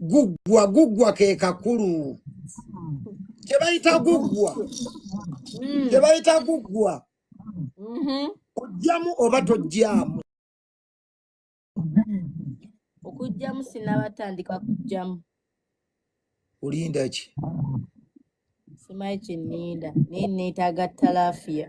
guggwa guggwa ke kakulu kye bayita guggwa Mm. kye bayita guggwa Mhm. ojjamu oba tojjamu okujjamu sinabatandika kujjamu olinda ki simanyi kyeninda naye neetaaga talafiya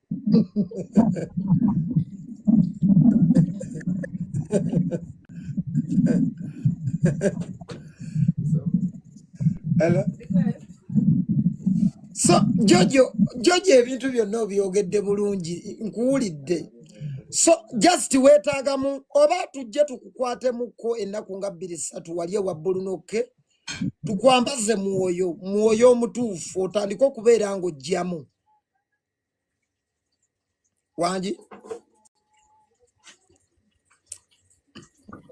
Hello? So Jojo, Jojo ebintu byonna obyogedde bulungi nkuwulidde. So just weetaagamu oba tujje tukukwatemuko ennaku nga bbiri ssatu wali ewa bbulunokke tukwambaze mwoyo mwoyo omutuufu otandike okubeera ng'oggyamu wangi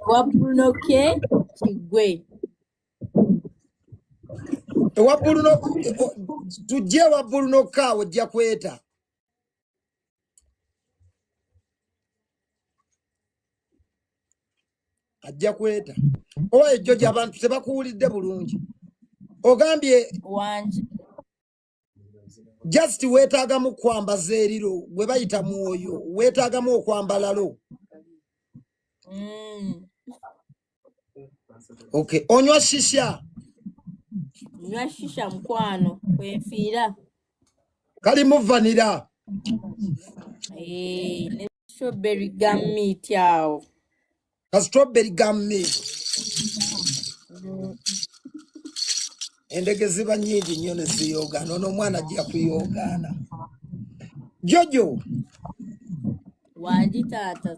wabulunoke kigwe ewabbuluno tujje ewabbulunoka ojja kweta ajja kweta owa ejjo gyabantu tebakuwulidde bulungi ogambye wangi just weetaagamu kwambaza eriro gwe bayita mwoyo weetaagamu okwambalalo mm. ok onywa shisha nywa shisha mukwano kwenfiira kali muvanira hey, eh, ne strawberry gum meat awo ka strawberry gum milk endege ziba nyingi nnyo ne ziyoogaana ono omwana ajja kuyoogaana jojo wangi taata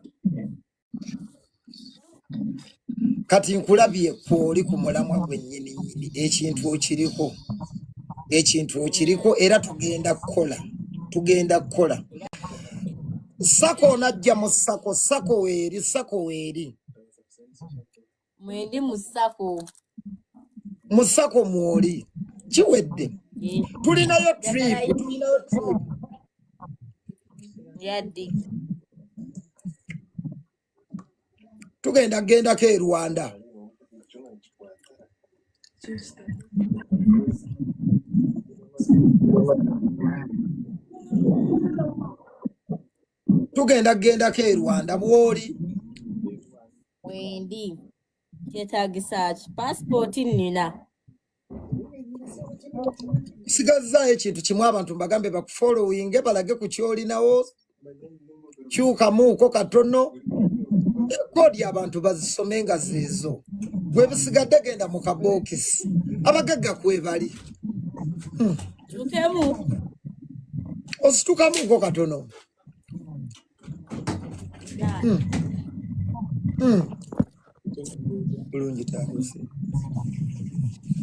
kati nkulabye kwoli ku mulamwa gwennyini nyini ekintu okiriko ekintu okiriko era tugenda kukola tugenda kukola sako onajja mu sako sako weeri sako weeri mwendi mu sako mu sako mwoli kiwedde tulinayo trip tulinayo trip yadde tugenda kugendako e rwanda tugenda kugendako e rwanda bwoli wendi kyetagisa ki pasipooti nina sigazaayo ekintu kimu abantu mbagambe bakufollowinge balage ku kyolinawo kyukamuuko katono koodi abantu bazisome nga zeezo gwebisigadde genda mu kabookisi abagagga kwebali hmm. ositukamuuko katono hmm. Hmm. bulungi taabuse